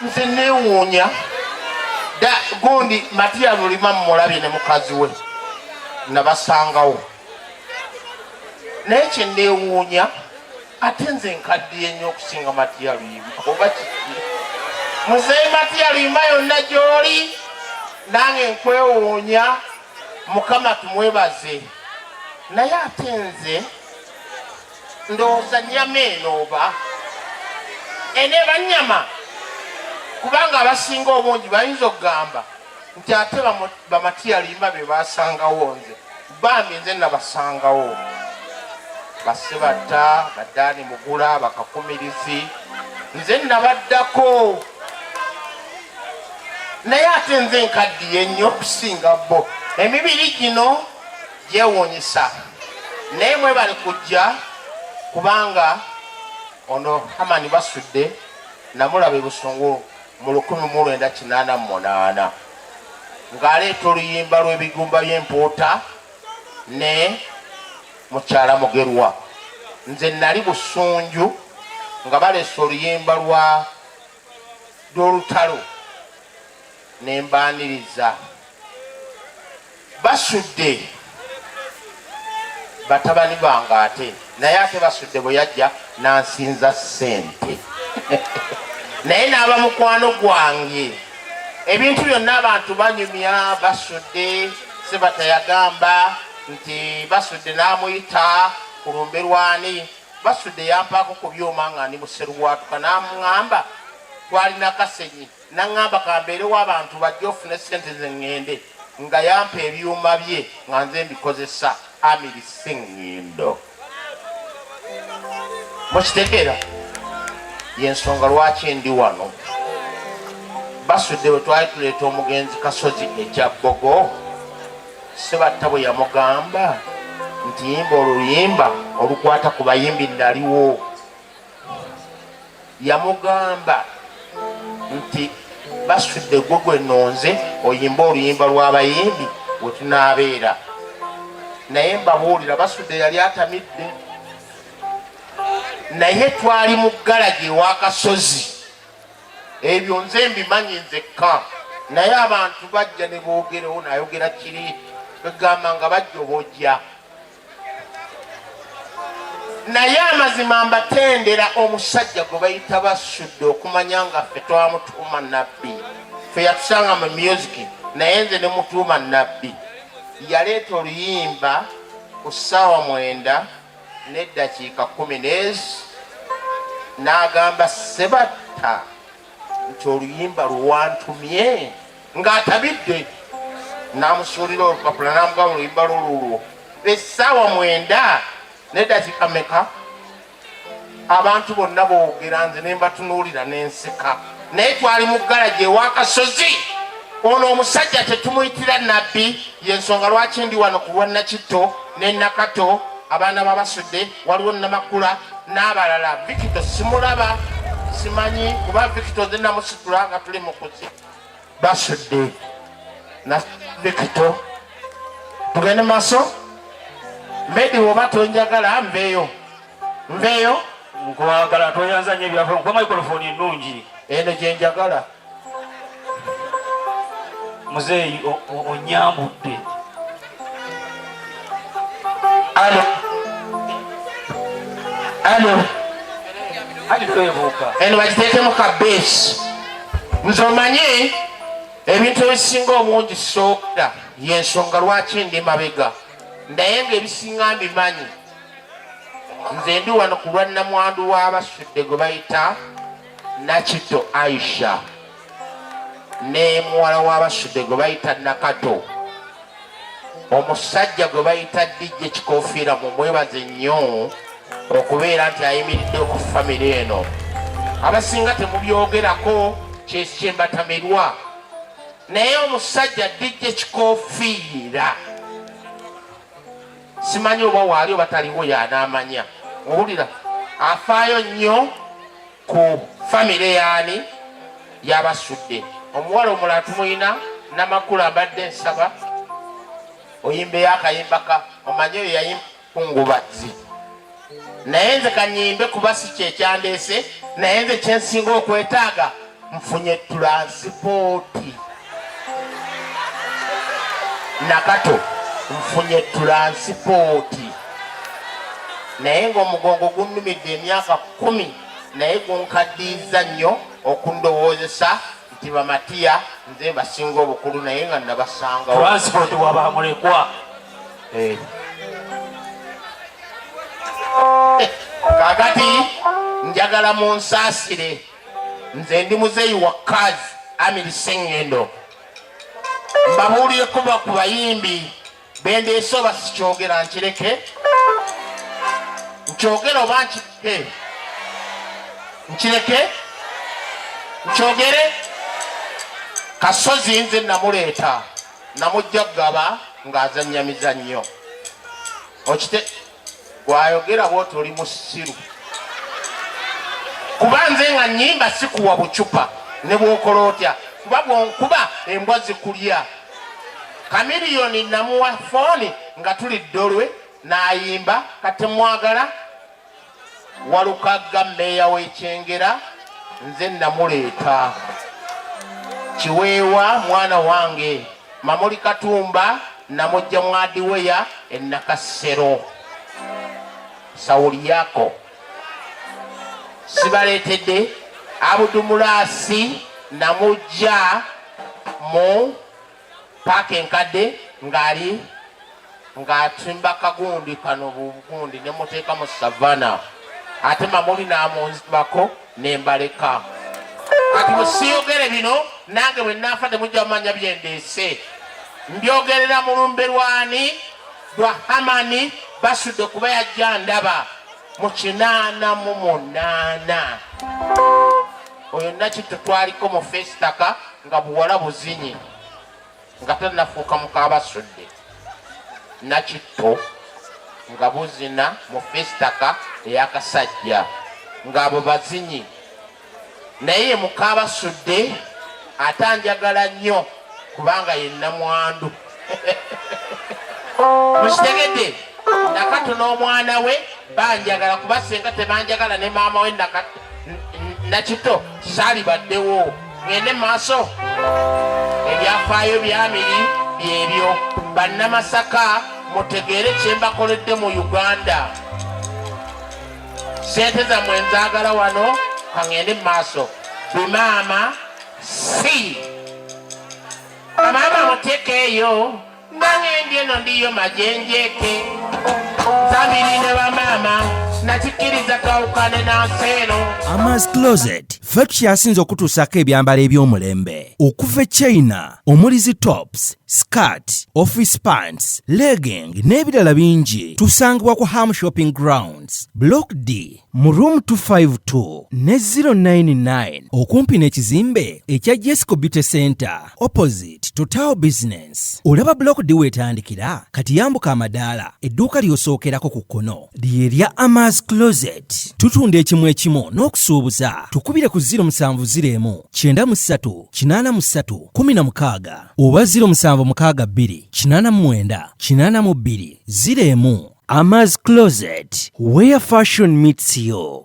nze newuunya da gundi matiya lulima mumulabye ne mukazi we nabasangawo naye kyenewuunya ate nze nkaddiye nnyo okusinga matiya luyima oba kiki muzeyi matiya luyima yonna gyoli nange nkwewuunya mukama tumwebaze naye ate nze ndowooza nyama eno oba eno eba nyama kubanga abasinga obungi bayinza okugamba nti ate bamatiyalimba be basangawo nze bambi nze nabasangawo basibatta badaani mugula bakakumirizi nze nabaddako naye ate nze nkaddiye nnyo okusinga bo emibiri gino yewuunyisa naye mwebale kujja kubanga ono hamani basudde namulaba ebusungu mu 1988 ng'aleeta oluyimba lw'ebigumba by'empuuta ne mukyala mugerwa nze nali busunju nga baleesa oluyimba lwa lw'olutalo ne mbaaniriza basudde batabani bange ate naye ate basudde bwe yajja n'ansinza ssente naye n'aba mukwano gwange ebintu byonna abantu banyumya basudde sebata yagamba nti basudde n'amuyita ku lumbe lwani basudde yampaako ku byuma nga ndi museruwaatuka n'amuŋamba twalina kasenyi Naŋŋamba ka mbeerewo abantu bajje ofune ssente ze ŋŋende nga yampa ebyuma bye nga nze mbikozesa Amiri Ssengindo. Mukitegeera? Ye nsonga lwaki ndi wano. Basudde bwe twali tuleeta omugenzi Kasozi ekya Bbogo, Ssebatta bwe yamugamba nti yimba oluyimba olukwata ku bayimbi naliwo. yamugamba nti basudde gwe gwe nonze oyimba oluyimba lw'abayimbi wetunaabeera naye mbabuulira basudde yali atamidde naye twali mu galagi ewakasozi ebyo nze mbimanyi nzekka naye abantu bajja ne boogerewo nayogera kiri egamba nga bajja obojja naye amazima mbatendera omusajja gwe bayita basudde okumanya nga ffe twamutuuma nabbi fe yatusanga mu music naye nze ne mutuuma nabbi yaleeta oluyimba ku ssaawa mwenda n'eddakiika kumi n'ezi n'agamba sebatta nti oluyimba luwantumye ng'atabidde n'amusuulira olupapula n'amugaba oluyimba lwo lulwo essaawa mwenda nedakika meka abantu bonna boogera nze ne mbatunuulira n'enseka naye twali mu galagi ewakasozi ono omusajja tetumuyitira nabbi yensonga lwaki ndi wano ku lwa nakitto ne nakato abaana babasudde waliwo namakula n'abalala vikito simulaba simanyi kuba vikito nze namusitula nga tuli mukuzi basudde na vikito tugende maaso medi woba tonjagala nveeyo nveeyo nkwagala tweyanza nyo ebyafula nkuba microfoni ennungi eno gyenjagala muzeeyi onyambudde alo alo ati twebuuka eno bakiteekemu ka beesi nze omanyi ebintu ebisinga omungi sooda yensonga lwaki ndi mabega naye nga ebisinga mbimanyi nze ndi wano ku lwa nnamwandu w'abasudde gwe bayita Nakitto Aisha ne muwala wa Basudde gwe bayita Nakato, omusajja gwe bayita DJ Kikofiira, mumwebaze nnyo okubeera nti ayimiridde ku famire eno. Abasinga temubyogerako kyekyembatamirwa, naye omusajja DJ Kikofiira simanyi oba waali oba taliwo yanaamanya owulira afaayo nnyo ku famire yaani yabasudde omuwala omulala tumuyina namakulu abadde nsaba oyimbeyo akayimba ka omanyi oyo yayimba kungubazi naye nze kanyimbe kuba si kyekyandeese naye nze kyensinga okwetaaga nfunye tulansipooti nakato nfunye tulansipooti naye ngaomugongo gunnumidde emyaka kumi naye gunkaddiiza nnyo okundowoozesa nti bamatiya nze basinga obukulu naye nga nabasangawo eh. kakati njagala munsaasire nze ndi muzeeyi wa kaz amiri sengendo mbabuulire kuba ku bayimbi bendeese oba sikyogera nkireke nkyogere oba nkireke nkireke nkyogere kasozi nze namuleeta namujja kugaba ng'azannya mizannyo okite gwayogera bwoti oli musiru kuba nze nga nyimba sikuwa bucupa ne bwokola otya kuba bwonkuba embwa zikulya kamiliyoni namuwa fooni nga tulidde olwe nayimba katemwagala walukagga meeya w'ekyengera nze namuleeta kiweewa mwana wange mamuli katumba namujja mwadiweya enakassero sawuli yako sibaleetedde abudumulaasi namujja mu paaka enkadde ng'ali ng'atimba kagundi kano bugundi ne muteeka mu savana ate mamuli n'amunzibako ne mbaleka kati bwe siyogere bino nange bwe naafa temujja mumanya bye ndeese mbyogerera mu lumbe lwani lwa hamani basudde kuba yajja ndaba mu kinaana mu munaana oyo nakitto twaliko mu fesitaka nga buwala buzinyi nga tanafuuka mukabasudde nakitto nga buzina mu fesitaka eyakasajja ng'abo bazinyi naye ye mukaaba sudde ate anjagala nnyo kubanga ye namwandu mukitegedde nakatu n'omwana we banjagala kuba senga tebanjagala ne maama we nakito salibaddewo ngende maaso ebyafaayo byamiri byebyo bannamasaka mutegeere kyembakoledde mu uganda sente zamwe nzagala wano kangende mu maaso bimaama si amaama muteke eyo nangendi eno ndiyo majenjeke zabiri ne bamaama nakikiriza twawukane nansi eno amas closet ffe tukyasiinza okutuusaako ebyambalo eby'omulembe okuva e china omuli zi tops skirt office pants legging n'ebirala bingi tusangibwa ku ham shopping grounds block d mu room 252 ne 099 okumpi n'ekizimbe ekya jesco beauty center opposite total business olaba block d wetandikira kati yambuka amadaala edduuka ly'osookerako ku kkono lye lya amas closet tutunda ekimu ekimu n'okusuubuza tukubire ku 07 0 9 3 kinaana mu ssatu kumi na mukaaga oba ziro musanvu mukaaga bbiri kinaana mu mwenda kinaana mu bbiri ziro emu amaz closet where fashion meets you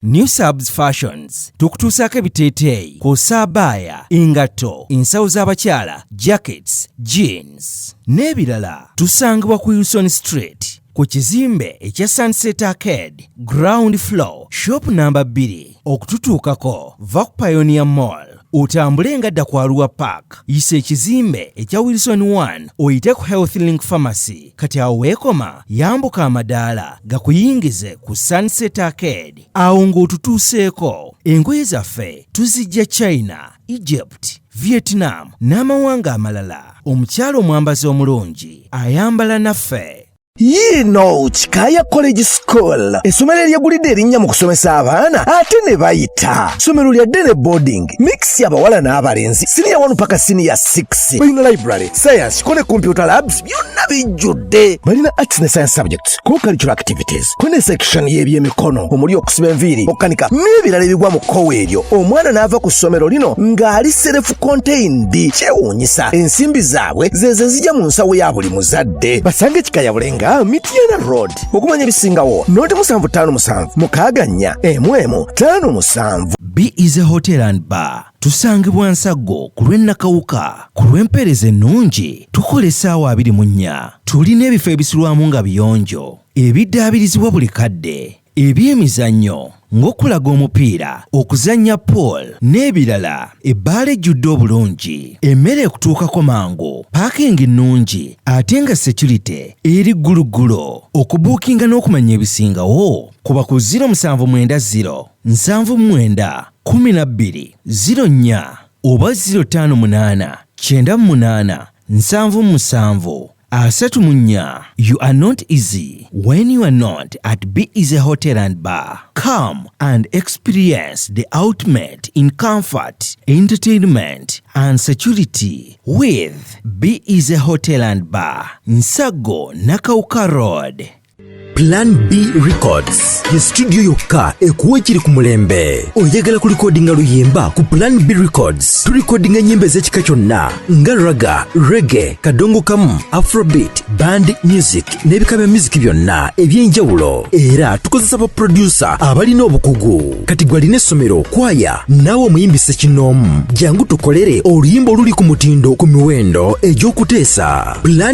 new subs fashions tukutuusaako ebiteeteeyi kw'ossa abaaya engatto ensawo z'abakyala jackets jeans n'ebirala tusangibwa ku uson street ku kizimbe ekya Sunset Arcade ground floor shop namba 2 okututuukako va ku Pioneer Mall otambule nga dda ku Arua Park yisa ekizimbe ekya Wilson 1 oyite ku Health Link Pharmacy kati awo weekoma yambuka amadaala gakuyingize ku Sunset Arcade awo ng'otutuuseeko engoye zaffe tuzijja China Egypt, Vietnam n'amawanga amalala. Omukyala omwambazi omulungi ayambala naffe. yiino kikaaya college school essomero eryegulidde erinnya mu kusomesa abaana ate ne bayita ssomero lya dene boarding mix abawala n'abalenzi siniya 1 paka siniya 6 balina library science kone computer labs byonna bijjudde balina arts ne science subjects co-curricular activities kune section y'ebyemikono omuli okusiba enviiri okukanika n'ebirala ebigwa mu kkowa eryo omwana n'ava ku ssomero lino ng'ali serefu contained kyewuunyisa ensimbi zaabwe zezo zijja mu nsawo ya buli muzadde basange kikayabule nga mityana road okumanya ebisingawo noti musanvu ttaano musanvu mukaaga nnya emu emu ttaano musanvu b is a hotel and bar Tusangibwa Nsaggo ku lw'e Nakawuka. Ku lw'empeereza ennungi, tukola essaawa abiri mu nnya. Tulina ebifo ebisulwamu nga biyonjo, ebiddaabirizibwa buli kadde, eby'emizannyo ng'okulaga omupiira, okuzannya pool n'ebirala, ebbaala ejjudde obulungi, emmere ekutuukako mangu, paakingi nnungi ate nga securite eri gguluggulo. Okubuukinga n'okumanya ebisingawo, kuba ku ziro musanvu mwenda ziro. nsanvu mwenda kumi na bbiri ziro nnya oba ziro ttaano munaana kyenda munaana nsanvu musanvu asatu mu nnya you are not easy when you are not at be easy hotel and bar come and experience the ultimate in comfort entertainment and security with be easy hotel and bar nsago nakauka road Plan B Records ye studio yokka ekuwa ekiri ku mulembe. Oyagala kulikodinga luyimba ku Plan B Records tulikodinga ennyimba ez'ekika kyonna nga raga, rege, kadongo kamu, afrobeat, band music n'ebika bya music byonna eby'enjawulo era tukozesa baproducer abalina obukugu. Kati gwe alina essomero, kwaya naawe omuyimbi ssekinnoomu, jangu tukolere oluyimba oluli ku mutindo ku miwendo egy'okuteesa. Plan